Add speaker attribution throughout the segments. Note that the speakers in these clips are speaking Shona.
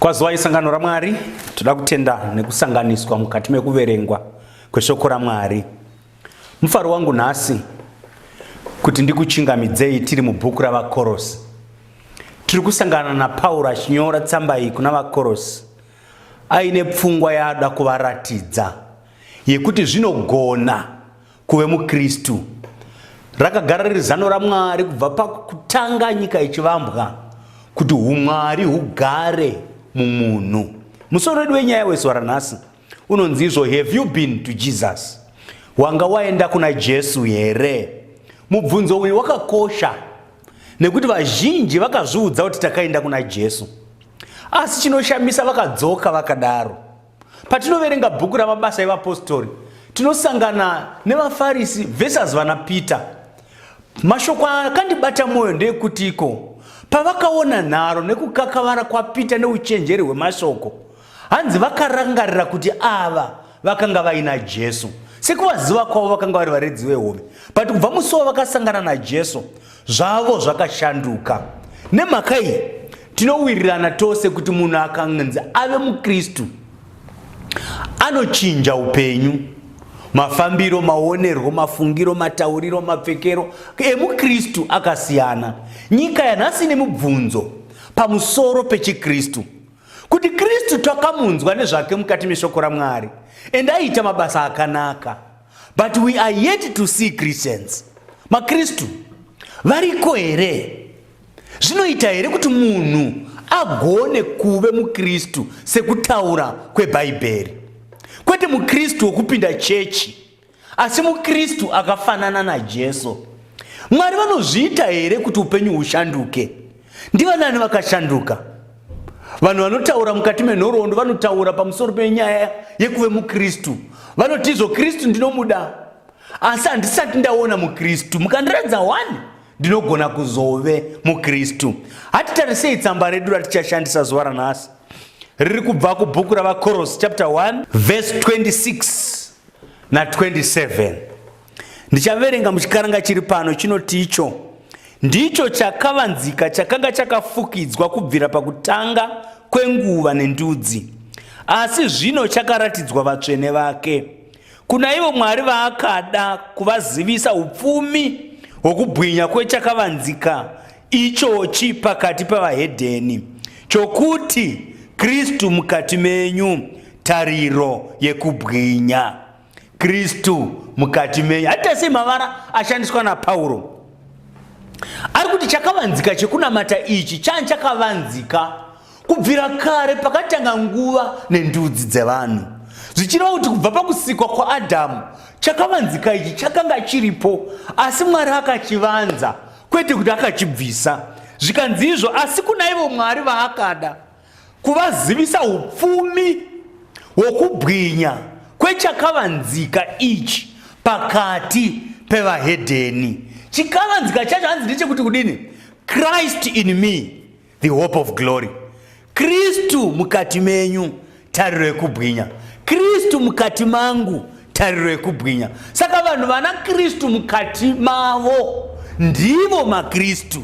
Speaker 1: Kwazwai sangano raMwari, toda kutenda nekusanganiswa mukati mekuverengwa kweshoko raMwari. Mufaro wangu nhasi kuti ndikuchingamidzei tiri mubhuku raVakorosi. Tiri kusangana naPauro achinyora tsamba iyi kuna Vakorosi aine pfungwa yaada kuvaratidza yekuti zvinogona kuve mukristu rakagara riri zano ramwari kubva pakutanga nyika yechivambwa kuti umwari hugare mumunhu musoro wedu wenyaya wezuva ranhasi unonzi izvo have you been to jesus wanga waenda kuna jesu here mubvunzo uyu wakakosha nekuti vazhinji vakazviudza kuti takaenda kuna jesu asi chinoshamisa vakadzoka vakadaro Patinoverenga bhuku ramabasa evapostori, tinosangana nevafarisi versus vana Peter. Mashoko akandibata mwoyo ndeekutiko pavakaona nharo nekukakavara kwaPeter neuchenjeri hwemashoko, hanzi vakarangarira kuti ava vakanga vaina Jesu. Sekuvaziva kwavo vakanga vari varedzi vehove, but kubva musi wavakasangana naJesu, zvavo zvakashanduka nemhaka iyi tinowirirana tose kuti munhu akanzi ave mukristu anochinja upenyu mafambiro maonerwo mafungiro matauriro mapfekero emukristu akasiyana nyika yanhasi nemubvunzo pamusoro pechikristu kuti kristu takamunzwa nezvake mukati meshoko ramwari ende aiita mabasa akanaka But we are yet to see Christians. MaKristu variko here? Zvinoita here kuti munhu agone kuve muKristu sekutaura kweBhaibheri? Kwete muKristu wokupinda chechi, asi muKristu akafanana naJesu. Mwari vanozviita here kuti upenyu hushanduke? Ndivanani vakashanduka? vanhu vanotaura mukati menhoroondo vanotaura pamusoro penyaya yekuve mukristu vanoti izvo kristu ndinomuda asi handisati ndaona mukristu mukandiratidza wani ndinogona kuzove mukristu hatitarisei tsamba redu ratichashandisa zuva ranhasi riri kubva kubhuku ravakoros chapter 1 vese 26 na 27 Ndichaverenga muchikaranga chiri pano chinoti icho ndicho chakavanzika chakanga chakafukidzwa kubvira pakutanga kwenguva nendudzi asi zvino chakaratidzwa vatsvene vake kuna ivo mwari vaakada kuvazivisa upfumi hwokubwinya kwechakavanzika ichochi pakati pavahedheni chokuti kristu mukati menyu tariro yekubwinya Kristu mukati menyu. Hata sei mavara ashandiswa naPauro ari kuti chakavanzika chekunamata ichi chani chakavanzika kubvira kare pakatanga nguva nendudzi dzevanhu zvichireva kuti kubva pakusikwa kwaadhamu chakavanzika ichi chakanga chiripo asi mwari akachivanza kwete kuti akachibvisa zvikanzi izvo asi kuna ivo mwari vaakada kuvazivisa upfumi hwokubwinya kwechakavanzika ichi pakati pevahedheni chikavanzika chacho hanzi ndechekuti kudini christ in me the hope of glory kristu mukati menyu tariro yekubwinya kristu mukati mangu tariro yekubwinya saka vanhu vana kristu mukati mavo ndivo makristu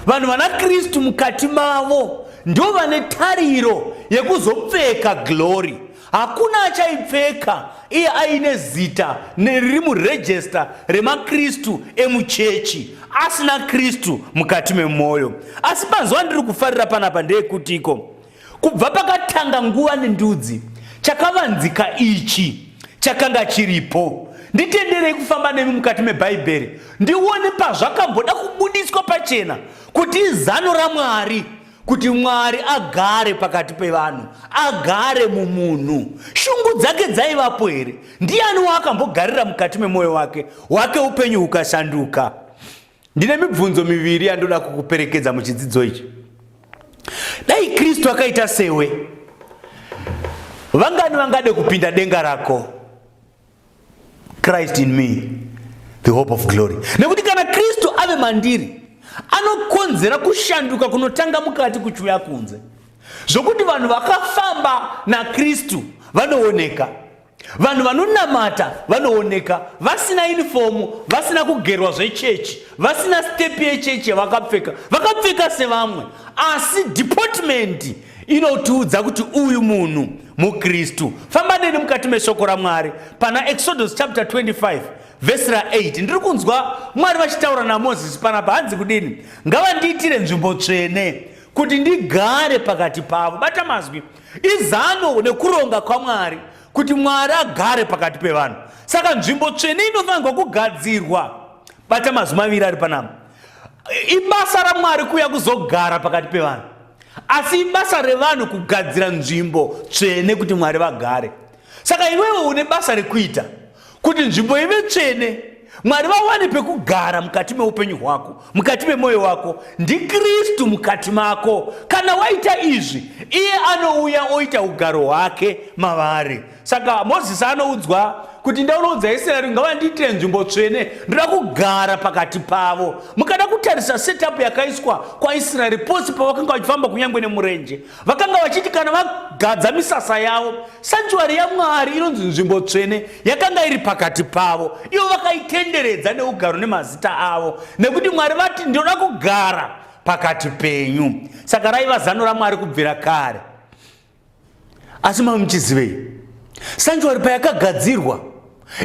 Speaker 1: vanhu vana kristu mukati mavo ndo vane tariro yekuzopfeka glory hakuna achaipfeka iye aine zita riri murejesta remakristu emuchechi asina kristu mukati memwoyo asi panzwa ndiri kufarira panapa ndeyekutiko Kubva pakatanga nguva nendudzi, chakavanzika ichi chakanga chiripo. Nditenderei kufamba nemi mukati meBhaibheri ndione pazvakamboda kubudiswa pachena kuti izano raMwari kuti Mwari agare pakati pevanhu, agare mumunhu. Shungu dzake dzaivapo here? Ndiani waakambogarira mukati memwoyo wake, wake upenyu hukashanduka? Ndine mibvunzo miviri yandoda kukuperekedza muchidzidzo ichi. Dai Kristu akaita sewe, vangani vangade kupinda denga rako? Christ in me, the hope of glory. Nekuti kana Kristu ave mandiri, anokonzera kushanduka kunotanga mukati kuchiuya kunze, zvokuti vanhu vakafamba naKristu vanooneka. vanhu vanonamata vanooneka vasina yunifomu vasina kugerwa zvechechi vasina stepi yechechi yavakapfeka vakapfeka sevamwe asi dhipotmendi inotiudza kuti uyu munhu mukristu famba neni mukati meshoko ramwari pana exodus chapter 25 vhesi ra8 ndiri kunzwa mwari vachitaura namozisi panapa hanzi kudini ngavandiitire nzvimbo tsvene kuti ndigare pakati pavo bata mazwi Izano nekuronga kwaMwari kuti Mwari agare pakati pevanhu. Saka nzvimbo tsvene inofanirwa kugadzirwa. Bata mazwi maviri ari panapa. Ibasa raMwari kuuya kuzogara pakati pevanhu. Asi ibasa revanhu kugadzira nzvimbo tsvene kuti Mwari vagare. saka iwewe une basa rekuita kuti nzvimbo ive tsvene mwari vawane pekugara mukati meupenyu hwako mukati memwoyo wako ndikristu mukati mako kana waita izvi iye anouya oita ugaro hwake mavari saka mozisi anoudzwa kuti ndaunoudza israeri ngavandiitire nzvimbo tsvene ndoda kugara pakati pavo mukada kutarisa setup yakaiswa kwaisraeri posi pavakanga vachifamba kunyange nemurenje Vakanga vachiti kana vagadza misasa yavo, sanchuari yaMwari inonzi nzvimbo tsvene yakanga iri pakati pavo, ivo vakaitenderedza neugaro nemazita avo, nekuti Mwari vati, Ndinoda kugara pakati penyu. Saka raiva zano raMwari kubvira kare. Asi mava muchizivei? Sanchuari payakagadzirwa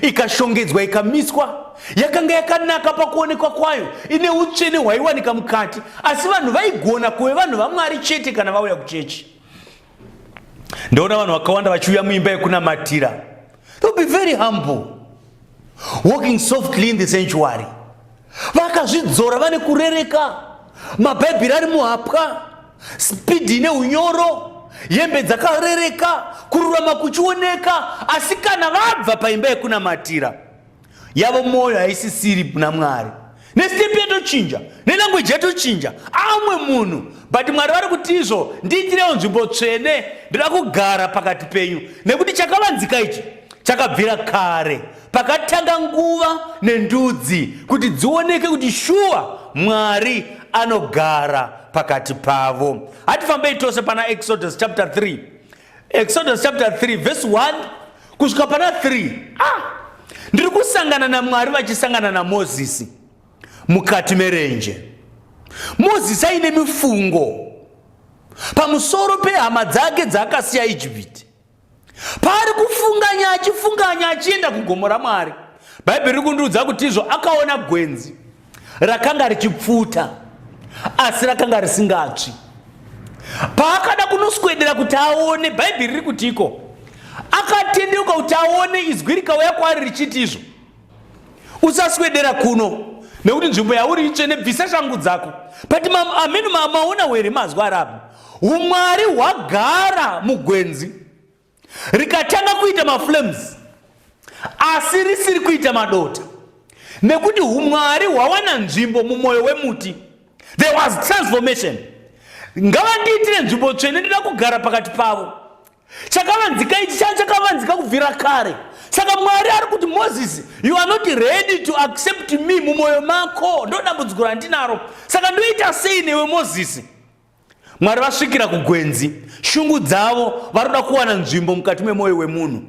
Speaker 1: ikashongedzwa ikamiswa yakanga yakanaka pakuonekwa kwayo ine utsvene hwaiwanika mukati asi vanhu vaigona kuve vanhu vamwari chete kana vauya kuchechi ndaona vanhu vakawanda vachiuya muimba yekunamatira they'll be very humble walking softly in the sanctuary vakazvidzora vane kurereka mabhaibheri ari muhapwa spidhi ine unyoro hembe dzakarereka kururama kuchioneka asi kana vabva paimba yekunamatira yavo mwoyo haisisiri kuna mwari nestepi yatochinja nelangweji yatochinja amwe munhu but mwari vari kuti izvo ndiitirewo nzvimbo tsvene ndinoda kugara pakati penyu nekuti chakavanzika ichi chakabvira kare Pakatanga nguva nendudzi kuti dzioneke kuti shuwa Mwari anogara pakati pavo. Hatifambei tose pana Exodus chapter 3. Exodus chapter 3 verse 1 kusvika pana 3. Ah! Ndiri kusangana naMwari vachisangana naMozisi mukati merenje. Mozisi aine mifungo pamusoro pehama dzake dzaakasiya Ijipiti. Paari kufunganya achifunganya achienda kugomo raMwari, Bhaibheri riri kundiudza kuti izvo akaona gwenzi rakanga richipfuta asi rakanga risingatsvi. Paakada kunoswedera kuti aone, Bhaibheri riri kutiko? Akatendeuka kuti aone izwi rikauya kwaari richiti izvo usaswedera kuno nekuti nzvimbo yauri itsvene bvisa shangu dzako but ameno maona were mazwa rabu umwari hwagara mugwenzi rikatanga kuita maflames asi risiri kuita madota nekuti umwari hwawana nzvimbo mumwoyo wemuti there was transformation ngavandiitire nzvimbo tsvene ndida kugara pakati pavo chakavanzika ichi changa chakavanzika kubvira kare saka mwari ari kuti moses you are not ready to accept me mumwoyo mako ndo dambudziko randinaro saka ndoita sei newe moses mwari vasvikira kugwenzi shungu dzavo vari kuda kuwana nzvimbo mukati memwoyo wemunhu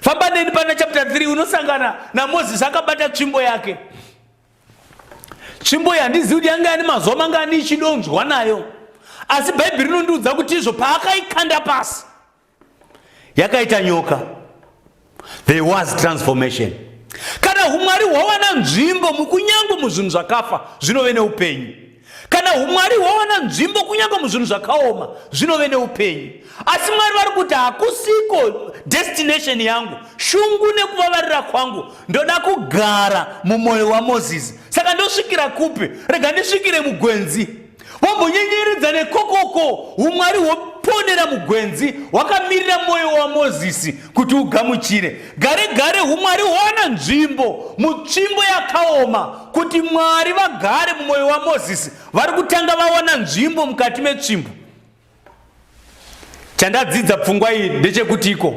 Speaker 1: famba neni pana chapter 3 unosangana namoses akabata tsvimbo yake tsvimbo iyi handizivi kuti yanga yani mazuva mangani ichidonzwa nayo asi bhaibheri rinondiudza kuti izvo paakaikanda pasi yakaita nyoka there was transformation kana umwari hwawana nzvimbo mukunyangwe muzvinhu zvakafa zvinove neupenyu Kana humwari hwawana nzvimbo kunyange muzvinhu zvakaoma zvinove neupenyu. Asi Mwari vari kuti hakusiko destination yangu, shungu nekuvavarira kwangu ndoda kugara mumwoyo waMozisi. Saka ndosvikira kupi? Rega ndisvikire mugwenzi. Vambonyenyeredza nekokoko humwari hwoponera mugwenzi hwakamirira mwoyo waMozisi kuti ugamuchire gare gare umwari hwana nzvimbo mutsvimbo yakaoma kuti mwari vagare mumwoyo wamozisi vari kutanga vawana nzvimbo mukati metsvimbo chandadzidza pfungwa iyi ndechekuti iko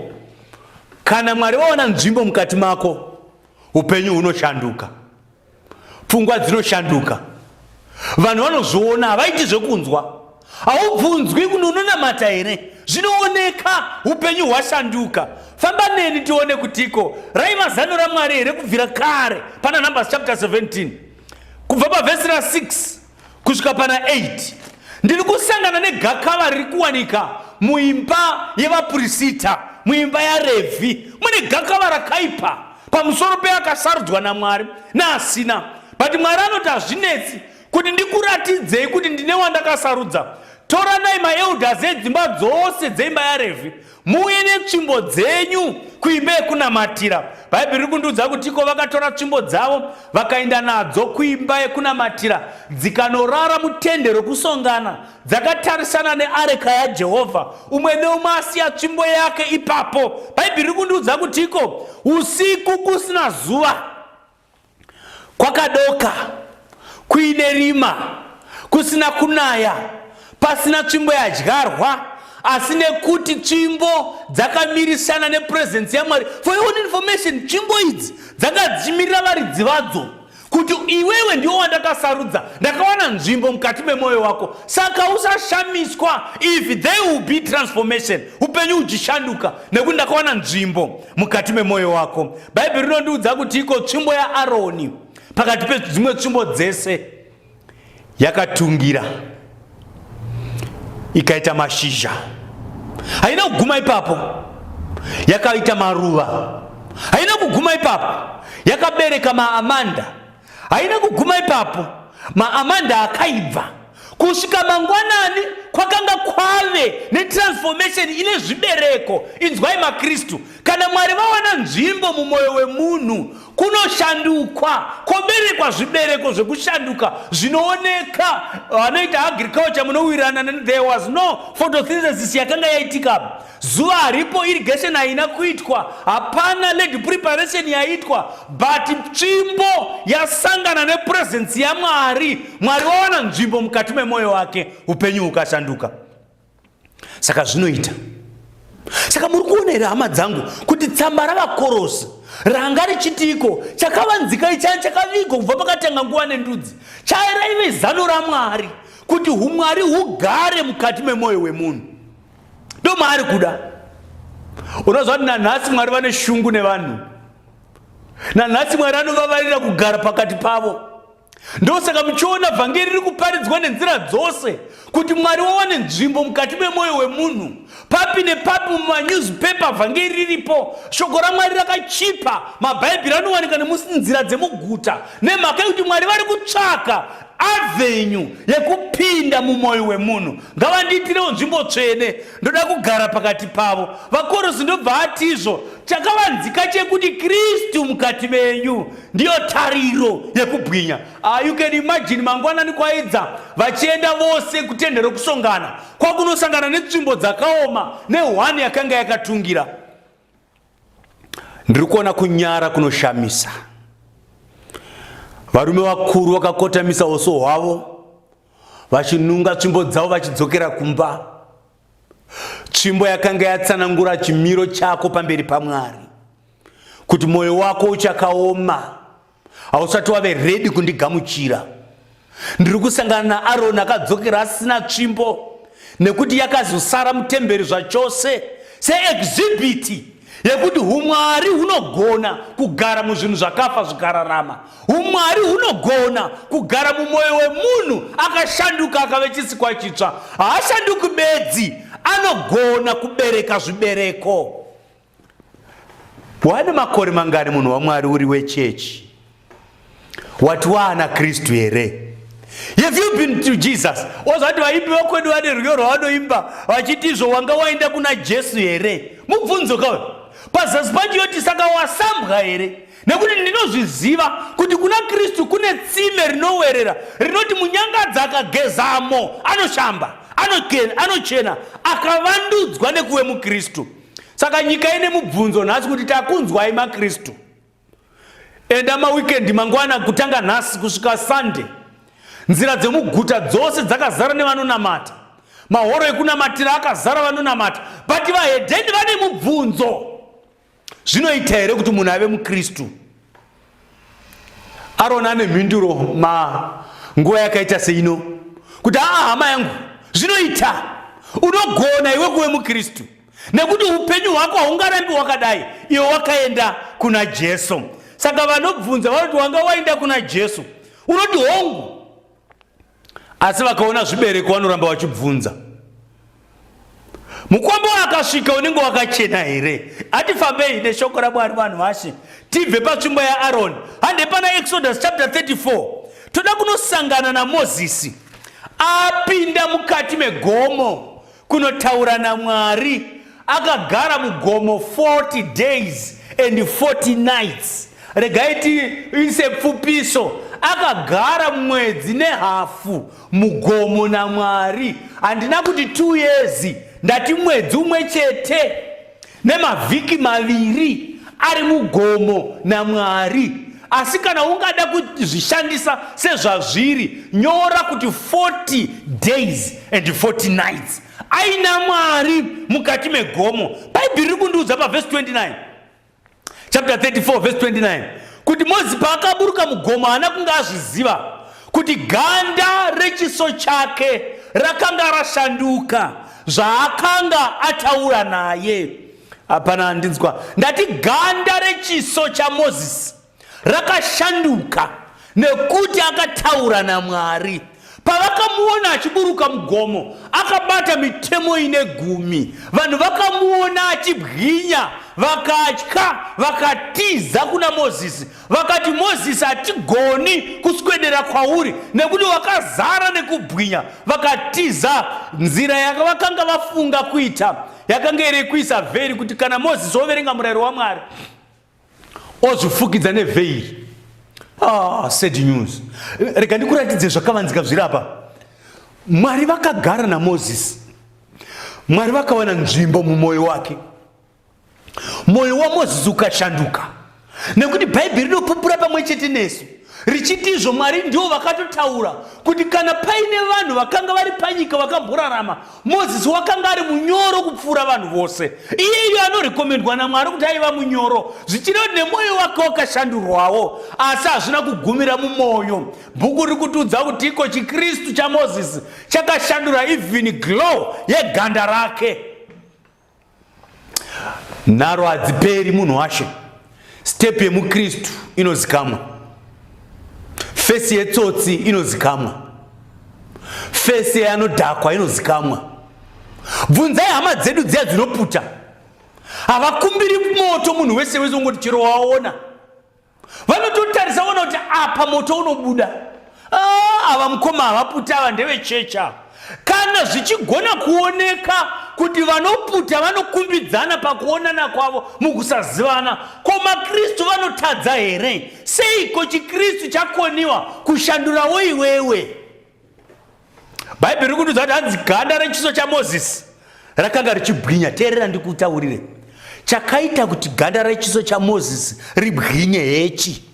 Speaker 1: kana mwari vawana nzvimbo mukati mako upenyu hunoshanduka pfungwa dzinoshanduka vanhu vanozviona havaiti zvekunzwa haubvunzwi kuno unonamata here zvinooneka upenyu hwashanduka famba neni tione kutiko raiva zano ramwari here kubvira kare pana numbers chapter 17 kubva pavhesi ra 6 kusvika pana 8 ndiri kusangana negakava riri kuwanika muimba yevapurisita muimba yarevhi mune gakava rakaipa pamusoro peakasarudzwa namwari naasina but mwari anoti hazvinetsi kuti ndikuratidzei kuti ndine wandakasarudza toranai maelders edzimba dzose dzeimba yarevhi Muuye netsvimbo dzenyu kuimba yekunamatira. Bhaibheri riri kundiudza kuti iko vakatora tsvimbo dzavo vakaenda nadzo kuimba yekunamatira dzikanorara mutende rokusongana dzakatarisana neareka yaJehovha, umwe neumwe asiya tsvimbo yake ipapo. Bhaibheri riri kundiudza kuti iko usiku kusina zuva kwakadoka kuine rima kusina kunaya pasina tsvimbo yadyarwa asi nekuti tsvimbo dzakamirisana nepurezensi yamwari for your own information tsvimbo idzi dzanga dzichimirira varidzi vadzo kuti iwewe ndiwo wandakasarudza ndakawana nzvimbo mukati memwoyo wako saka usashamiswa if there will be transformation upenyu uchishanduka nekuti ndakawana nzvimbo mukati memwoyo wako bhaibheri rinondiudza kuti iko tsvimbo yaaroni pakati pedzimwe tsvimbo dzese yakatungira ikaita mashizha haina kuguma ipapo yakaita maruva haina kuguma ipapo yakabereka maamanda haina kuguma ipapo maamanda akaibva kusvika mangwanani kwakanga kwave netransformation ine zvibereko inzwai makristu kana mwari vawana nzvimbo mumwoyo wemunhu kunoshandukwa koberekwa zvibereko zvekushanduka zvinooneka vanoita agriculture munowirirana there was no photosynthesis yakanga yaitika Zuva haripo irrigation haina kuitwa, hapana lady preparation yaitwa, but tsvimbo yasangana nepresence yaMwari, Mwari wawana nzvimbo mukati memoyo wake, upenyu hukashanduka. Saka zvinoita saka muri kuona here hama dzangu kuti tsamba ravakorosi ranga richitiiko chakavanzika ichaya chakavigwa kubva pakatanga nguva nendudzi chairaive zano ramwari kuti umwari hugare mukati memwoyo wemunhu ndo maari kuda unoziva kuti nanhasi mwari vane shungu nevanhu nanhasi mwari anovavarira kugara pakati pavo ndosaka muchiona vhangeri riri kuparidzwa nenzira dzose kuti mwari wawane nzvimbo mukati memwoyo wemunhu papi nepapi mumanewspaper vhangeri riripo shoko ramwari rakachipa mabhaibheri anowanika nemusinzira dzemuguta nemhaka yekuti mwari vari kutsvaka avenyu yekupinda mumwoyo wemunhu ngavandiitirewo nzvimbo tsvene ndoda kugara pakati pavo vakorosi ndobva atizvo chakavanzika chekuti kristu mukati menyu ndiyo tariro yekubwinya ah, you can imagine mangwanani kwaidza vachienda vose kutende rokusongana kwakunosangana netsvimbo dzakaoma nehwani yakanga yakatungira Ndiri kuona kunyara kunoshamisa. Varume vakuru vakakotamisa uso hwavo vachinunga tsvimbo dzavo vachidzokera kumba. Tsvimbo yakanga yatsanangura chimiro chako pamberi paMwari kuti moyo wako uchakaoma hausati wave redi kundigamuchira ndiri kusangana naaroni akadzokera asina tsvimbo nekuti yakazosara mutemberi zvachose seexhibiti yekuti umwari hunogona kugara muzvinhu zvakafa zvikararama umwari hunogona kugara mumwoyo wemunhu akashanduka akave chisikwa chitsva haashanduki bedzi anogona kubereka zvibereko Wane makore mangani munhu waMwari uri wechechi? Wati waana Kristu here? Have you been to Jesus? Wazati vaipi vekwedu vane rwiyo rwavanoimba vachiti izvo wanga waenda kuna Jesu here? Mubvunzo kauyo pazasi pacho yoti saka wasambwa here? nekuti ndinozviziva kuti kuna kristu kune tsime rinowerera rinoti munyangadzi akagezamo anoshamba anochena akavandudzwa nekuve mukristu saka nyika ine mubvunzo nhasi kuti takunzwai makristu enda mawikendi mangwana kutanga nhasi kusvika sunday nzira dzemuguta dzose dzakazara nevanonamata mahoro ekunamatira akazara vanonamata but vahedheni vane mubvunzo zvinoita here kuti munhu ave mukristu aroni ane mhinduro ma nguva yakaita seino kuti aa hama yangu zvinoita unogona iwe kuve mukristu nekuti upenyu hwako haungarambi wakadai iwe wakaenda kuna jesu saka vanobvunza vanoti wanga waenda kuna jesu unoti hongu asi vakaona zvibereko vanoramba vachibvunza mukombo wakasvika unenge wakachena here ati fambei neshoko ramwari vanhu vashe tibve patsvimbo yaaroni hande pana exodus chapter 34 toda kunosangana namozisi apinda mukati megomo Kunotaura naMwari akagara mugomo 40 days and 40 nights. Regai tiise pfupiso akagara mwedzi nehafu mugomo naMwari. Handina kuti 2 years ndati mwedzi umwe chete. nemavhiki maviri ari mugomo namwari asi kana ungada kuzvishandisa sezvazviri nyora kuti 40 days and 40 nights aina mwari mukati megomo bhaibheri ri kundiudza pavhesi 29 chapter 34 verse 29 kuti mozi paakaburuka mugomo haana kunge azviziva kuti ganda rechiso chake rakanga rashanduka zvaakanga ataura naye hapana andinzwa ndati ganda rechiso chamozisi rakashanduka nekuti akataura namwari pavakamuona achiburuka mugomo akabata mitemo ine gumi vanhu vakamuona achibwinya vakatya vakatiza kuna mozisi vakati mozisi hatigoni kuswedera kwauri nekuti wakazara nekubwinya vakatiza nzira yakavakanga vafunga kuita yakanga iri kuisa vheri kuti kana mozisi woverenga murayiro wamwari ozvifukidza nevheiri ah, sad news rega ndikuratidze zvakavanzika zviri apa mwari vakagara namozisi mwari vakawana nzvimbo mumwoyo wake mwoyo wamozisi ukashanduka nekuti bhaibheri rinopupura pamwe chete nesu richiti izvo mwari ndivo vakatotaura kuti kana paine vanhu vakanga vari panyika vakamborarama Mozisi wakanga ari munyoro kupfuura vanhu vose. Iyeyo anorekomendwa naMwari kuti aiva munyoro, zvichireva kuti nemwoyo wake wakashandurwawo, asi hazvina kugumira mumwoyo. Bhuku riri kutiudza kuti iko chiKristu chaMozisi chakashandura ivhini glow yeganda rake. nharo hadziperi munhu washe step yemukristu inozikamwa fesi yetsotsi inozikamwa fesi yeanodhakwa inozikamwa bvunzai hama dzedu dziya dzinoputa havakumbiri moto munhu wese wese ungoti chero waona vanototarisa vona kuti apa moto unobuda ah, ava mukoma havaputa ava ndevechecha kana zvichigona kuoneka kuti vanoputa vanokumbidzana pakuonana kwavo mukusazivana ko makristu vanotadza here seiko chikristu chakoniwa kushandurawo iwewe bhaibheri riri kutiudza kuti hanzi ganda rechiso chamozisi rakanga richibwinya teerera ndikutaurire chakaita kuti ganda rechiso chamozisi ribwinye hechi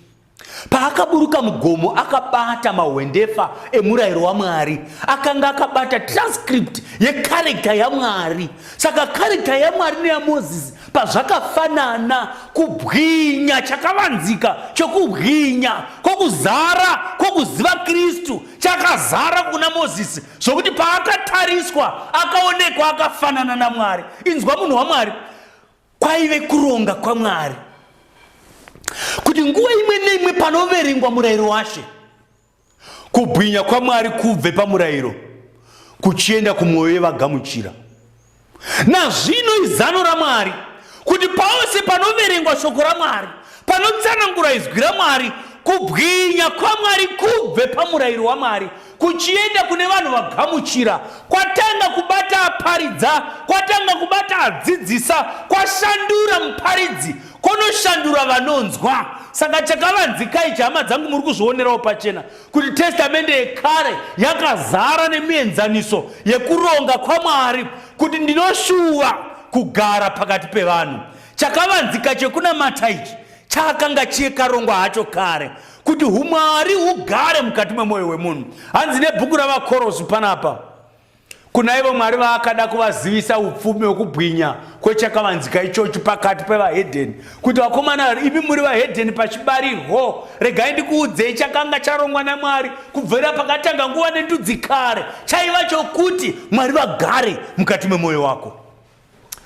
Speaker 1: paakaburuka mugomo akabata mahwendefa emurayiro wamwari akanga akabata transcript yekarekta yamwari saka karekta yamwari neyamozisi Pazvakafanana, kubwinya chakavanzika chokubwinya kwokuzara kwokuziva Kristu chakazara kuna Mozisi zvokuti paakatariswa akaonekwa akafanana naMwari. Inzwa munhu waMwari, kwaive kuronga kwaMwari kuti nguva imwe neimwe panoverengwa murayiro washe Kubwinya kwaMwari kubve pamurayiro kuchienda kumwoyo yevagamuchira. Nazvino izano raMwari kuti pose panoverengwa shoko raMwari, panotsanangura izwi raMwari, kubwinya kwaMwari kubve pamurayiro waMwari kuchienda kune vanhu vagamuchira kwatanga kubata aparidza kwatanga kubata adzidzisa kwashandura muparidzi kunoshandura vanonzwa saka chakavanzika ichi hama dzangu muri kuzvionerawo pachena kuti testamende yekare yakazara nemienzaniso yekuronga kwamwari kuti ndinoshuva kugara pakati pevanhu chakavanzika chekunamata ichi chakanga chikarongwa hacho kare kuti umwari hugare mukati memwoyo wemunhu hanzi nebhuku ravakorosvi panapa Kuna ivo Mwari vaakada kuvazivisa upfumi hwokubwinya kwechakavanzika ichochi pakati pevahedheni, kuti vakomana vari imi muri vahedheni pachibarirwo, regai ndikuudzei chakanga charongwa naMwari kubvira pakatanga nguva nendudzi kare, chaiva chokuti Mwari vagare mukati memwoyo wako.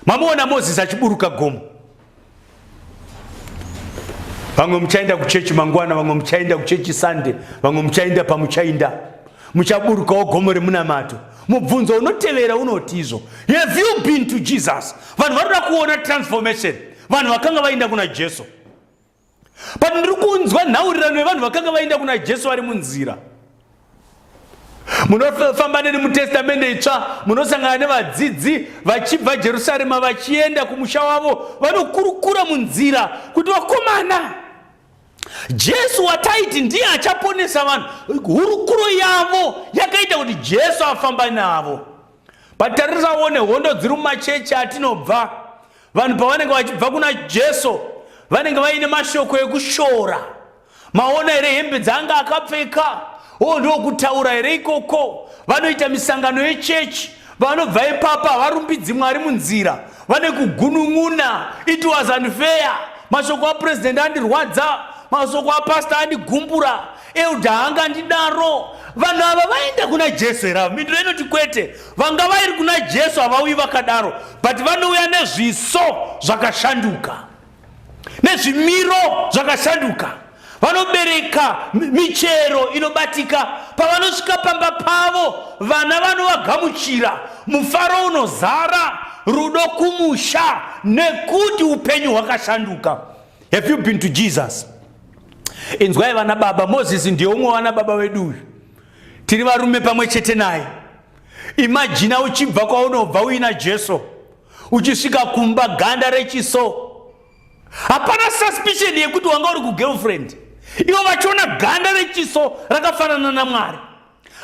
Speaker 1: Mamuona Moses achiburuka gomo. Vamwe muchaenda kuchechi mangwana, vamwe muchaenda kuchechi Sunday, vamwe muchaenda pamuchaenda. Muchaburukawo gomo remunamato. Mubvunzo unotevera unoti izvo. Have you been to Jesus? Vanhu vanoda kuona transformation. Vanhu vakanga vaenda kuna Jesu. but ndiri kunzwa nhaurirano yevanhu vakanga vaenda kuna jesu vari munzira munofamba neni mutestamende itsva munosangana nevadzidzi vachibva jerusarema vachienda kumusha wavo vanokurukura munzira kuti vakomana jesu wataiti ndiye achaponesa vanhu hurukuro yavo yakaita kuti jesu afamba navo bataririsawo nehondo dziri mumachechi atinobva vanhu pavanenge vachibva kuna jesu vanenge vaine mashoko ekushora maona here hembe dzaanga akapfeka o oh, ndokutaura here ikoko vanoita misangano yechechi vanobva ipapa havarumbidzi mwari munzira vane kugunun'una it was unfair mashoko apurezidendi andirwadza mashoko apasta andigumbura elda anga ndidaro vanhu ava vaenda kuna jesu here ava mindiro inoti kwete Vanga vairi kuna Jesu havauyi vakadaro but vanouya nezviso zvakashanduka nezvimiro zvakashanduka vanobereka michero inobatika pavanosvika pamba pavo vana vanovagamuchira mufaro unozara rudo kumusha nekuti upenyu hwakashanduka have you been to jesus inzwai vana baba moses ndiye umwe vana baba vedu uyu tiri varume pamwe chete naye imajina uchibva kwaunobva uina jesu uchisvika kumba ganda rechiso hapana suspicion yekuti wanga uri kugirlfriend ivo vachiona ganda rechiso rakafanana namwari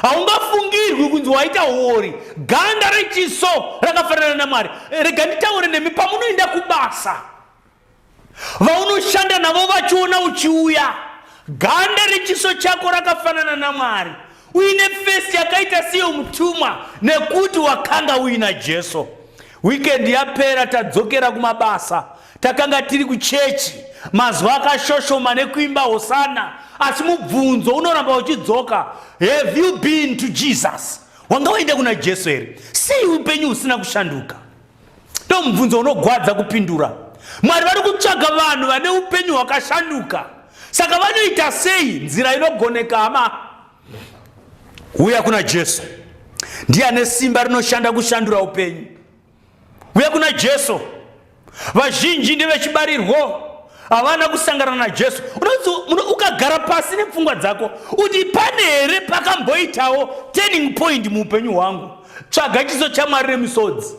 Speaker 1: haungafungirwi kunzi waita uori ganda rechiso rakafanana namwari rega nditaure nemi pamunoenda kubasa vaunoshanda navo vachiona uchiuya ganda rechiso chako rakafanana namwari uine fesi yakaita seyo mutumwa nekuti wakanga uina jesu wikendi yapera tadzokera kumabasa takanga tiri kuchechi mazuva akashoshoma nekuimba hosana asi mubvunzo unoramba uchidzoka have you been to jesus wanga waenda kuna jesu here sei upenyu husina kushanduka ndo mubvunzo unogwadza kupindura mwari vari kutsvaga vanhu vane upenyu hwakashanduka saka vanoita sei nzira inogoneka hama uya kuna jesu ndiye ane simba rinoshanda kushandura upenyu uya kuna jesu vazhinji ndevechibarirwo havana kusangana najesu ukagara pasi nepfungwa dzako kuti pane here pakamboitawo turning point muupenyu hwangu tsvaga chiso chamwari remisodzi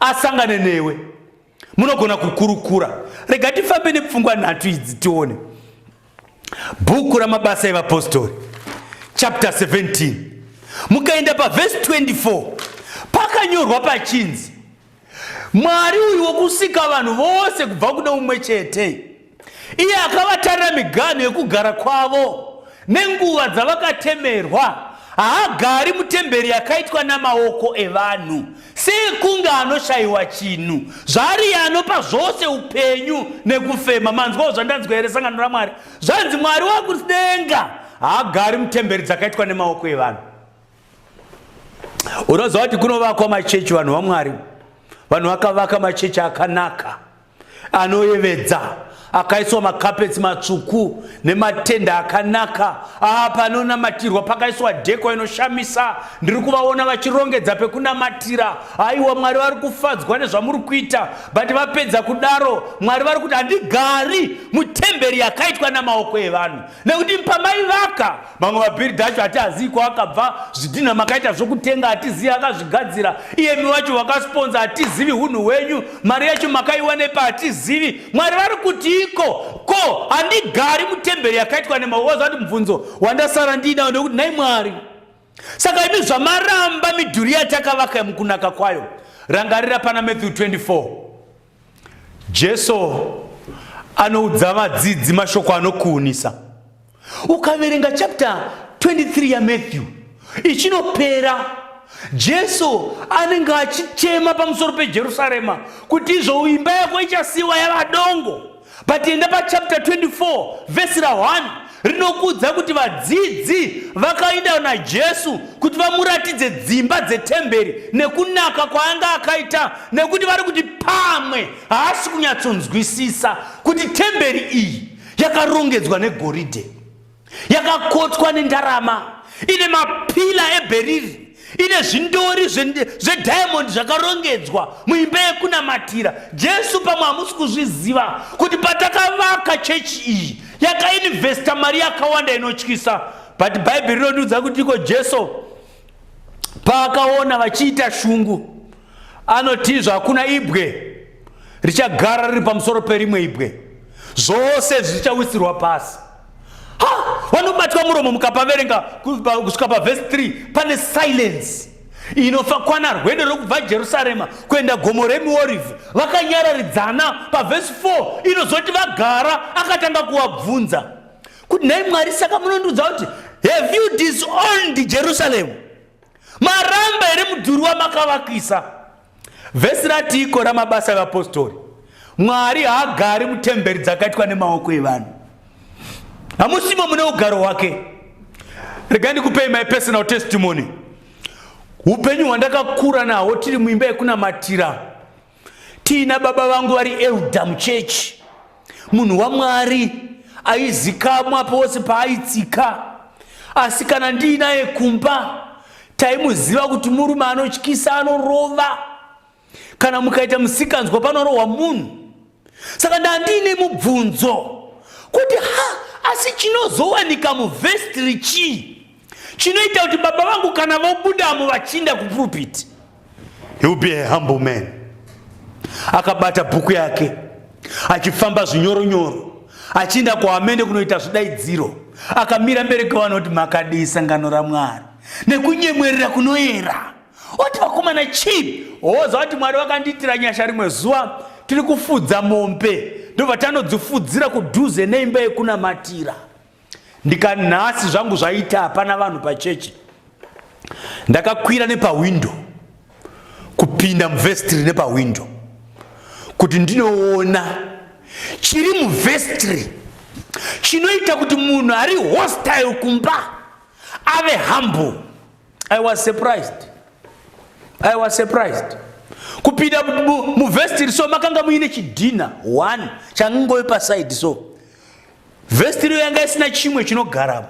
Speaker 1: asangane newe munogona kukurukura rega tifambe nepfungwa nhatu idzi tione bhuku ramabasa evapostori chapter 17 mukaenda pavhesi 24 pakanyorwa pachinzi Mwari uyu wokusika vanhu vose kubva kune umwe chete, iye akavatarira miganhu yekugara kwavo nenguva dzavakatemerwa, haagari mutemberi yakaitwa namaoko evanhu, sekunge anoshayiwa chinhu. Zvaariye anopa zvose upenyu nekufema. Manzwawo zvandanzwa here sangano raMwari? Zvanzi Mwari wakudenga haagari mutemberi dzakaitwa nemaoko evanhu. unoziva kuti kunovakwa machechi vanhu vamwari vanhu vakavaka machechi akanaka anoyevedza akaiswa makapetsi matsvuku nematenda akanaka aa panonamatirwa pakaiswa dheko inoshamisa ndiri kuvaona vachirongedza pekunamatira haiwa mwari vari kufadzwa nezvamuri kuita but vapedza kudaro mwari vari kuti handigari mutemberi yakaitwa namaoko evanhu nekuti pamaivaka mamwe mabhiridha acho hatiazii kwaakabva zvidhinha makaita zvokutenga hatizivi akazvigadzira iyemi wacho wakasponza hatizivi hunhu hwenyu mari yacho makaiwanepa hatizivi mwari vari kuti iko ko handigari mutemberi yakaitwa nemaozo ati mubvunzo wandasara ndiinawo nekuti nhai mwari saka imi zvamaramba midhuri yatakavaka mukunaka kwayo rangarira pana matthew 24 Jesu anoudza vadzidzi mashoko anokuunisa. Ukaverenga chapter 23 yaMatthew ichinopera, Jesu anenge achichema pamusoro peJerusarema kuti izvo imba yako ichasiwa yava dongo. but enda pachapter 24 vhesi ra1 rinokuudza kuti vadzidzi vakainda najesu kuti vamuratidze dzimba dzetemberi nekunaka kwaanga akaita nekuti vari kuti pamwe haasi kunyatsonzwisisa kuti temberi iyi yakarongedzwa negoridhe yakakotswa nendarama ine mapila ebheriri ine zvindori zvediamondi zvakarongedzwa muimba yekunamatira jesu pamwe hamusi kuzviziva kuti patakavaka chechi iyi yakainvesta mari yakawanda inotyisa but bhaibheri rinotiudza kuti iko jesu paakaona vachiita shungu anotizva hakuna ibwe richagara riri pamusoro perimwe ibwe zvose zvichawisirwa pasi ha vanobatwa muromo mukapaverenga kusvika pavhesi 3 pane silence inofa kwana rwendo rwekubva jerusarema kuenda gomo remiorivhi vakanyararidzana pavhesi 4 inozoti vagara akatanga kuvabvunza kuti nhai mwari saka munondiudza kuti have you disowned jerusalem maramba here mudhuri wamakavakisa Vhesi ratiiko ramabasa evapostori? Mwari haagari mutemberi dzakaitwa nemaoko evanhu. Hamusimo mune ugaro hwake. Rega ndikupei my personal testimony. Upenyu hwandakakura nahwo tiri muimba yekunamatira tiina baba vangu vari elda muchechi munhu wamwari aizikamwa pose paaitsika asi kana ndiinaye kumba taimuziva kuti murume anotyisa anorova kana mukaita musikanzwa panorohwa munhu saka ndandiine mubvunzo kuti ha asi chinozowanika muvhestiri chii chinoita kuti baba vangu kana vobudamo vachinda kupulpiti he will be a humble man akabata bhuku yake achifamba zvinyoronyoro achinda kuhamende kunoita zvidaidziro akamira mberi kwevanhu kuti makadii sangano ramwari nekunyemwerera kunoyera oti vakomana chii hoza kuti mwari vakandiitira nyasha rimwe zuva tiri kufudza mombe ndobva tanodzifudzira kudhuze neimba yekunamatira ndikanhasi zvangu zvaita hapana vanhu pachechi ndakakwira nepahwindo kupinda muvhestiri nepahwindo kuti ndinoona chiri muvhestiri chinoita kuti munhu ari hostile kumba ave humble i was surprised i was surprised kupinda muvhestiri so makanga muine chidhina one changove pasaidi so Vhesiti riyo yanga isina chimwe chinogaramo.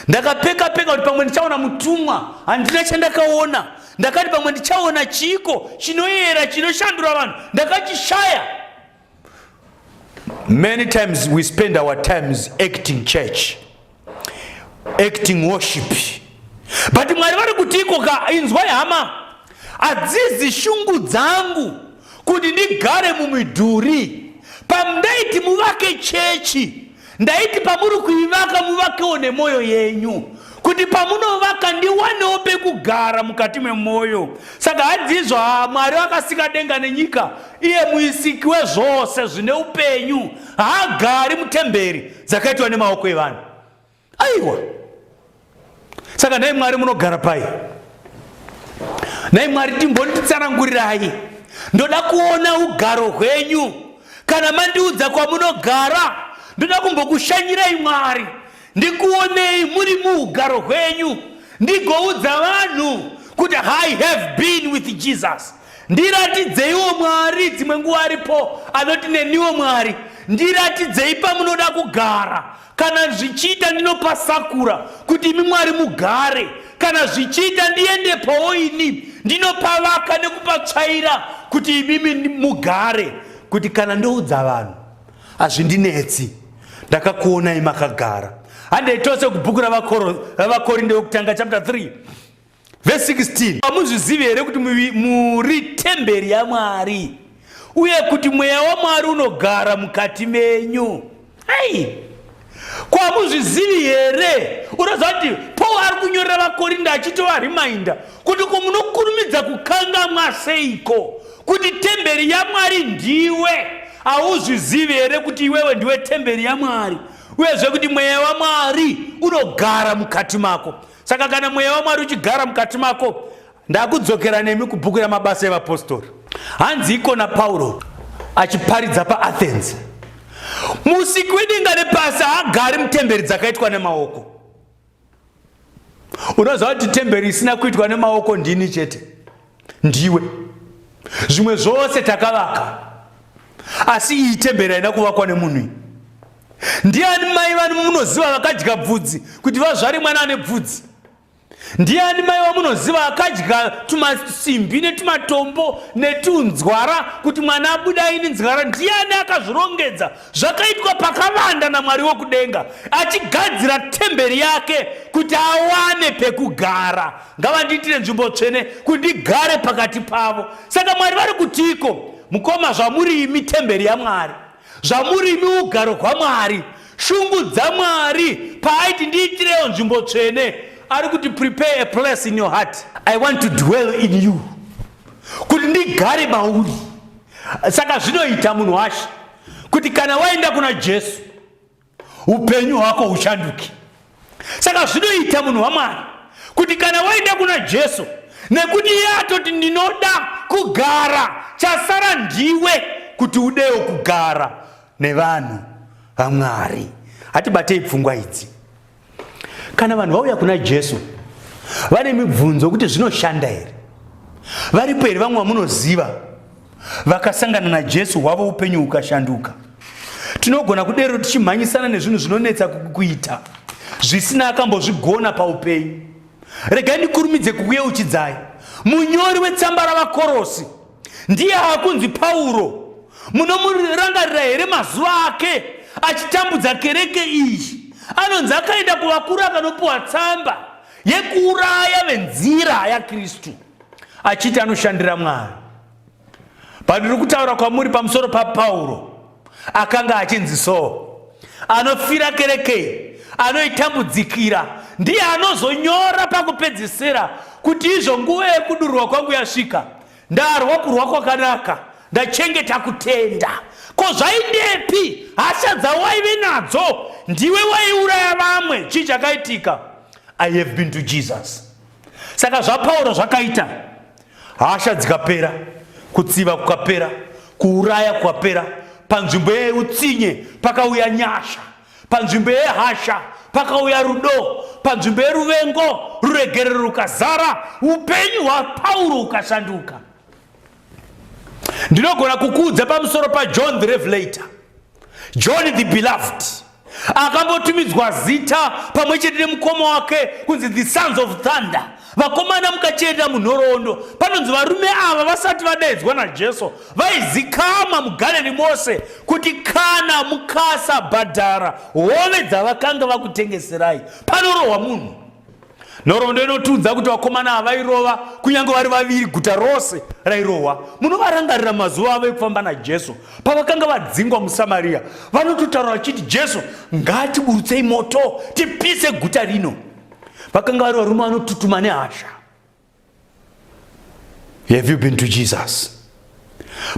Speaker 1: Ndakapeka peka kuti pamwe ndichaona mutumwa, handina chandakaona. Ndakati pamwe ndichaona chiiko chinoyera chinoshandura vanhu, ndakachishaya. Many times we spend our times acting church, acting worship. But Mwari vari kutiiko ka inzwai hama, hadzizi shungu dzangu. kuti ndigare mumidhuri pamundaiti muvake chechi ndaiti pamuri kuivaka muvakewo nemwoyo yenyu kuti pamunovaka ndiwanewo pekugara mukati memwoyo saka hadzizvo ha mwari vakasika denga nenyika iye muisiki wezvose zvine upenyu haagari mutemberi dzakaitwa nemaoko evanhu aiwa saka nhai mwari munogara pai nhai mwari timbonditsanangurirai ndoda kuona ugaro hwenyu kana mandiudza kwamunogara ndoda kumbokushanyirai mwari ndikuonei muri muugaro hwenyu ndigoudza vanhu kuti i have been with jesus ndiratidzeiwo mwari dzimwe nguva aripo anoti neniwo mwari ndiratidzei pamunoda kugara Kana zvichiita ndinopa sakura kuti imi Mwari mugare, kana zvichiita ndiende pawo ini ndinopavaka nekupatsvaira kuti imimi mugare, kuti kana ndoudza vanhu hazvindinetsi, ndakakuonai makagara. Handei tose kubhuku raVakorinde wekutanga chapter 3 Verse 16. Hamuzvizivi here kuti muri temberi yaMwari uye kuti mweya waMwari unogara mukati menyu? Ai. Ko hamuzvizivi here? Unoziva kuti Paul ari kunyorera vaKorinda achitova reminder kuti ko munokurumidza kukangamwa seiko kuti temberi yaMwari ndiwe. Hauzvizivi here kuti iwewe ndiwe temberi yaMwari uyezve kuti mweya waMwari unogara mukati mako? saka kana mweya wamwari uchigara mukati mako ndakudzokera nemi kubhuku ramabasa evapostori hanzi ikona pauro achiparidza paathens musiki wedenga nepasi haagari mutemberi dzakaitwa nemaoko unoziva kuti temberi isina kuitwa nemaoko ndini chete ndiwe zvimwe zvose takavaka asi iyi temberi haina kuvakwa nemunhu iyi ndiani mai vani munoziva vakadya bvudzi kuti vazvare mwana ane bvudzi ndiani mai vamunoziva akadya tumasimbi netumatombo netunzwara kuti mwana abuda ini nzwara ndiani akazvirongedza zvakaitwa pakavanda namwari wokudenga achigadzira temberi yake kuti awane pekugara ngavandiitire nzvimbo tsvene kuti ndigare pakati pavo saka mwari vari kutiiko mukoma zvamuri imi temberi yamwari zvamuri imi ugaro hwamwari shungu dzamwari paaiti ndiitirewo nzvimbo tsvene ari kuti prepare a place in your heart i want to dwell in you kuti ndigare mauri saka zvinoita munhu washe kuti kana waenda kuna jesu upenyu hwako huchanduke saka zvinoita munhu wamwari kuti kana waenda kuna jesu nekuti iye atoti ndinoda kugara chasara ndiwe kuti udewo kugara nevanhu vamwari hatibatei pfungwa idzi kana vanhu vauya kuna jesu vane mibvunzo kuti zvinoshanda here varipo here vamwe vamunoziva vakasangana najesu hwavo upenyu hukashanduka tinogona kudero tichimhanyisana nezvinhu zvinonetsa kuita zvisina akambozvigona paupenyu regai ndikurumidze kukuyeuchidzai munyori wetsamba ravakorosi Ndiye akunzi Pauro. Munomurangarira here mazuva ake achitambudza kereke iyi? anonzi akaenda kuvakuru akanopiwa tsamba yekuuraya venzira yakristu achiti anoshandira mwari pandiri kutaura kwamuri pamusoro papauro akanga achinzi soo anofira kerekei anoitambudzikira ndiye anozonyora pakupedzisira kuti izvo nguva yekudurwa kwangu yasvika ndarwa kurwa kwakanaka ndachengeta kutenda ko zvaidepi hasha dzawaive nadzo ndiwe waiuraya vamwe chii chakaitika i have been to jesus saka zvapauro zvakaita hasha dzikapera kutsiva kukapera kuuraya kukapera panzvimbo yeutsinye pakauya nyasha panzvimbo yehasha pakauya rudo panzvimbo yeruvengo ruregerero rukazara upenyu hwapauro ukashanduka ndinogona kukuudza pamusoro pajohn the revelator John the Beloved akambotumidzwa zita pamwe chete nemukoma wake kunzi the sons of thunder vakomana mukacheeta munhoroondo panonzi varume ava vasati vadaidzwa najesu vaizikama mugaleni mose kuti kana mukasabhadhara hove dzavakanga vakutengeserai panorohwa munhu nhoroondo inotiudza kuti vakomana ava vairova kunyange vari vaviri guta rose rairohwa munovarangarira mazuva avo ekufamba najesu pavakanga vadzingwa musamariya vanototaura vachiti jesu ngaatiburutsei moto tipise guta rino vakanga vari varume vanotutuma nehasha have you been to jesus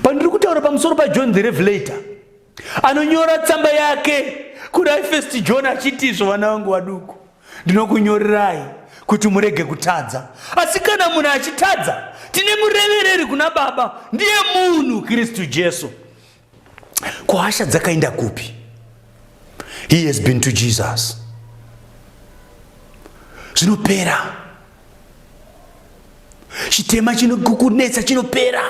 Speaker 1: pandiri kutaura pamusoro pajohn the revelator anonyora tsamba yake kuna ifest john achiti izvo vana vangu vaduku ndinokunyorerai kuti murege kutadza asi kana munhu achitadza tine murevereri kuna baba ndiye munhu kristu jesu ko hasha dzakaenda kupi he has been to jesus zvinopera chitema chinokukunetsa chinopera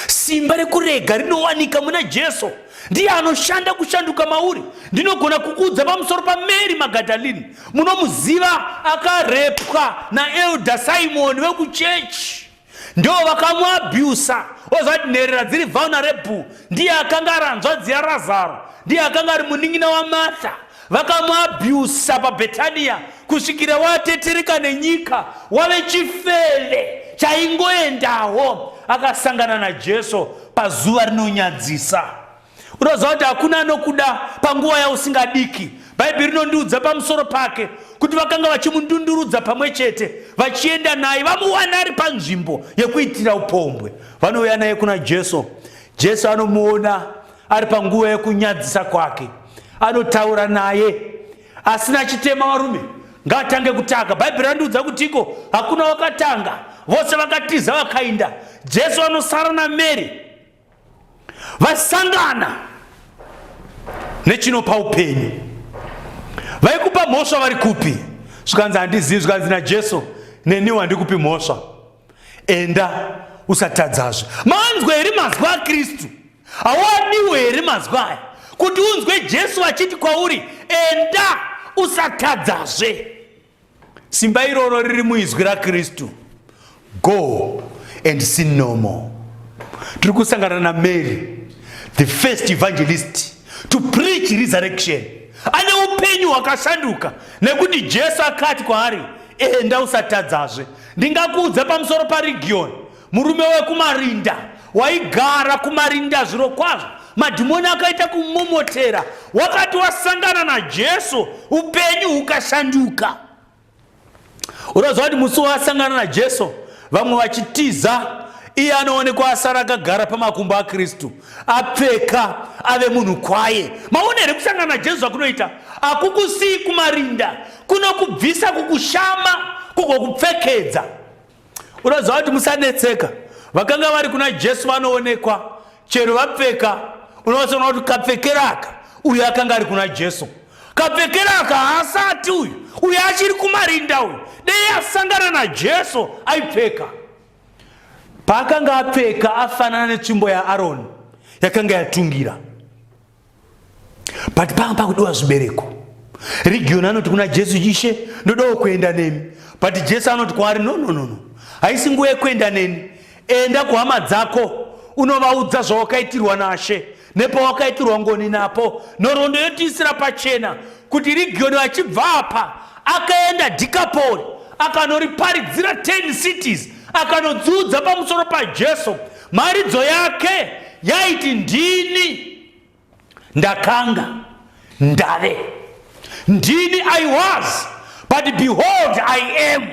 Speaker 1: simba rekurega rinowanika muna jesu ndiye anoshanda kushanduka mauri ndinogona kukuudza pamusoro pamary magadalini munomuziva akarepwa naelda simoni vekuchechi ndo vakamuabusa ozvati nherera dziri vulnerable ndiye akanga ari hanzvadzi yarazaro ndiye akanga ari munin'ina wamartha vakamuabusa pabhetaniya kusvikira watetereka nenyika wave chifeve chaingoendawo akasangana najesu pazuva rinonyadzisa unoziva kuti hakuna anokuda panguva yausingadiki bhaibheri rinondiudza pamusoro pake kuti vakanga vachimundundurudza pamwe chete vachienda naye vamuwana ari panzvimbo yekuitira upombwe vanouya naye kuna jesu jesu anomuona ari panguva yekunyadzisa kwake anotaura naye asina chitema varume ngaatange kutanga bhaibheri randiudza kuti iko hakuna wakatanga vose vakatiza vakainda jesu anosara namary vasangana nechinopa upenyu vaikupa mhosva vari kupi zvikanzi handizivi zvikanzi najesu neniwo handikupi mhosva enda usatadzazve manzwa here mazwi akristu hawadiwo here mazwi aya kuti unzwe jesu achiti kwauri enda usatadzazve Simba iroro riri muizwi raKristu. Go and sin no more. Tiri kusangana naMary, the first evangelist to preach resurrection. Ane upenyu hwakashanduka nekuti Jesu akati kwaari, enda usatadzazve. Ndingakuudza pamusoro paRegion Murume wekumarinda waigara kumarinda zviro kwazvo madhimoni akaita kumomotera wakati wasangana najesu upenyu hukashanduka unoziva kuti musi waasangana najesu vamwe vachitiza iye anoonekwa asara akagara pamakumbo akristu apfeka ave munhu kwaye maona here kusangana najesu zvakunoita hakukusiyi kumarinda kunokubvisa kukushama kugokupfekedza unoziva kuti musanetseka vakanga vari kuna jesu vanoonekwa chero vapfeka unovasoona kuti kapfekeraka uyo akanga ari kuna jesu kapfekeraka haasati uyu uyo achiri kumarinda uyu dei asangana najesu aipfeka paakanga apfeka afanana netsvimbo yaaroni yakanga yatungira but panga pakudiwa zvibereko rigioni anoti kuna jesu ishe ndodawo kuenda nemi but jesu anoti kwaari no no no no haisi nguva yekuenda neni enda kuhama dzako unovaudza zvawakaitirwa nashe nepawakaitirwa ngoni napo nhoroondo yotiisira pachena kuti rigioni vachibva apa akaenda dikapori akanoriparidzira 10 cities akanodziudza pamusoro pajesu Mharidzo yake yaiti ndini ndakanga ndave ndini i was but behold i am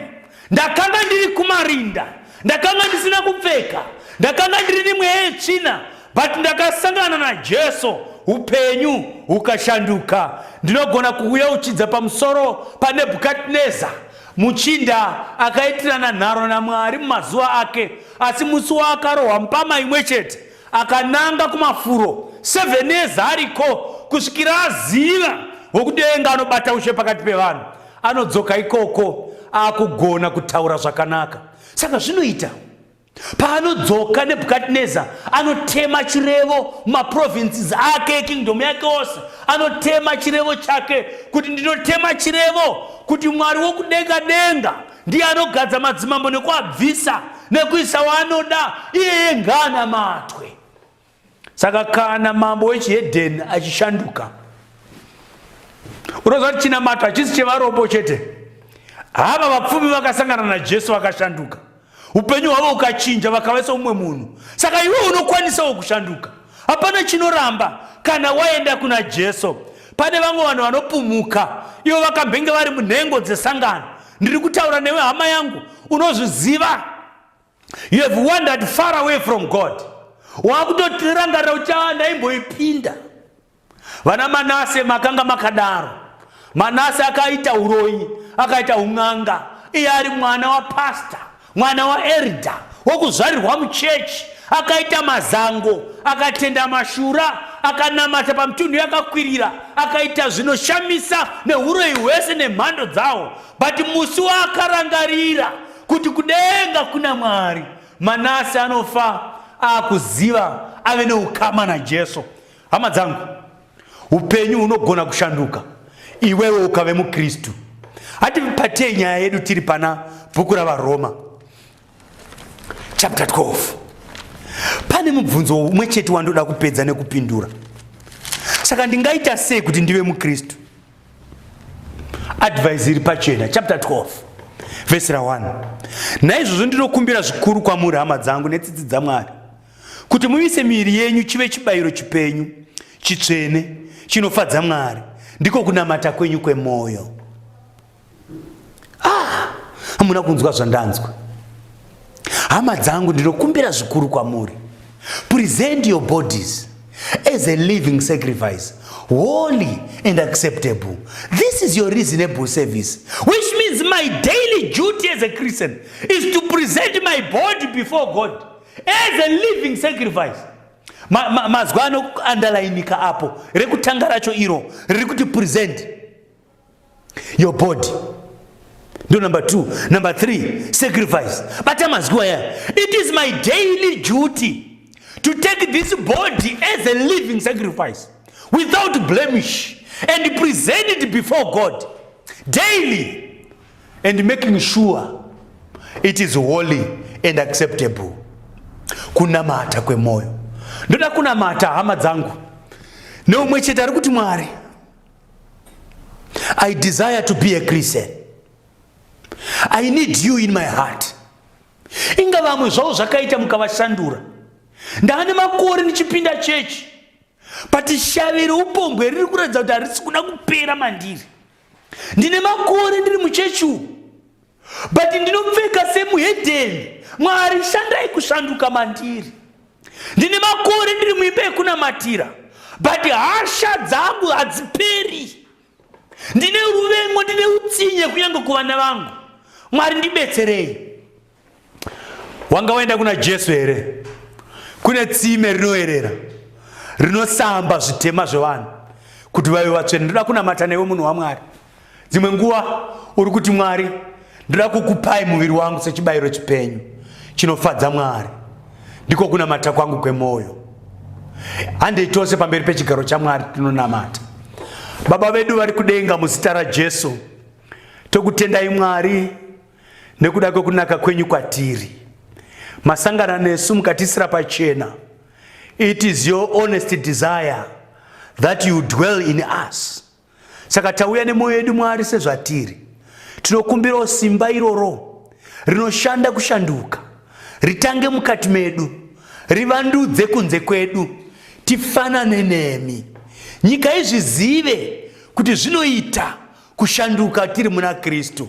Speaker 1: ndakanga ndiri kumarinda ndakanga ndisina kupfeka ndakanga ndiri nemweya yetsvina but ndakasangana najesu upenyu hukashanduka ndinogona kuuya uchidza pamusoro panebhukadneza muchinda akaitirana nharo namwari mumazuva ake Asi musi waakarohwa mpama imwe chete, akananga kumafuro seven years ariko kusvikira aziva wokudenga anobata ushe pakati pevanhu. Anodzoka ikoko akugona kutaura zvakanaka. Saka zvinoita paanodzoka nebukadnezar anotema chirevo mumaprovinces ake ekingdom yake ose anotema chirevo chake kuti ndinotema chirevo kuti mwari wokudenga denga ndiye anogadza madzimambo nekuabvisa nekuisa waanoda iyeye ngaanamatwe saka kana mambo wechihedheni achishanduka unoziva kuti chinamato hachisi chevarombo chete hava vapfumi vakasangana najesu vakashanduka upenyu hwavo ukachinja vakava seumwe munhu saka iwe unokwanisawo kushanduka Hapana chinoramba kana waenda kuna Jesu. Pane vamwe vanhu vanopumuka ivo vakambenge vari munhengo dzesangano. Ndiri kutaura newe hama yangu, unozviziva. You have wandered far away from God. Wakutotirangarira kuti ah, ndaimboipinda. Vana Manase makanga makadaro. Manase akaita uroyi, akaita un'anga. Iye ari mwana wapastor, mwana waerda, wokuzvarirwa muchechi. Akaita mazango, akatenda mashura, akanamata pamutunhu yakakwirira, akaita zvinoshamisa neuroyi hwese nemhando dzawo. But musi waakarangarira kuti kudenga kuna Mwari, Manase anofa akuziva ave neukama naJesu. Hama dzangu, upenyu hunogona kushanduka iwewe ukave muKristu. Hatipatie nyaya yedu tiri pana bhuku raVaroma chapter 12. Pane mubvunzo umwe chete wandoda kupedza nekupindura. Saka ndingaita sei kuti ndive muKristu? Advice iri pachena chapter 12 verse ra 1. Naizvozvo ndinokumbira zvikuru kwamuri hama dzangu netsitsi dzaMwari kuti muise miiri yenyu chive chibayiro chipenyu chitsvene chinofadza mwari ndiko kunamata kwenyu kwemwoyo ah, hamuna ah, kunzwa zvandanzwa hama dzangu ndinokumbira zvikuru kwamuri present your bodies as a living sacrifice holy and acceptable this is your reasonable service which means my daily duty as a christian is to present my body before god as a living sacrifice ma, ma, mazwi anoandalainika apo rekutanga racho iro riri kuti present your body ndo number two number three sacrifice bata mazwi waya it is my daily duty to take this body as a living sacrifice without blemish and present it before god daily and making sure it is holy and acceptable kunamata kwemoyo ndoda kunamata hama dzangu neumwe chete ari kuti mwari i desire to be a christian i need you in my heart inga vamwe zvavo zvakaita mukavashandura ndaane makore ndichipinda chechi but shaviro upombwe riri kuratidza kuti harisi kuda kupera mandiri Ndine makore ndiri muchechi umu but ndinopfeka semuhedheni. Mwari shandai kushanduka mandiri. Ndine makore ndiri muimba yekunamatira but hasha dzangu hadziperi. Ndine ruvengo, ndine utsinye kunyange kuvana vangu. Mwari ndibetserei. wanga waenda kuna jesu here kune tsime rinoerera rinosamba zvitema zvevanhu kuti vave vatsvene ndoda kunamata newe munhu wamwari dzimwe nguva uri kuti mwari ndoda kukupai muviri wangu sechibayiro chipenyu chinofadza mwari ndiko kunamata kwangu kwemwoyo handei tose pamberi pechigaro chamwari tinonamata baba vedu vari kudenga muzita rajesu tokutendai mwari Nekuda kwekunaka kwenyu kwatiri, masangana nesu mukatisira pachena. It is your honest desire that you dwell in us. Saka tauya nemwoyo yedu Mwari sezvatiri. Tinokumbirawo simba iroro rinoshanda kushanduka, ritange mukati medu, rivandudze kunze kwedu, tifanane nemi. Nyika izvizive kuti zvinoita kushanduka tiri muna Kristu.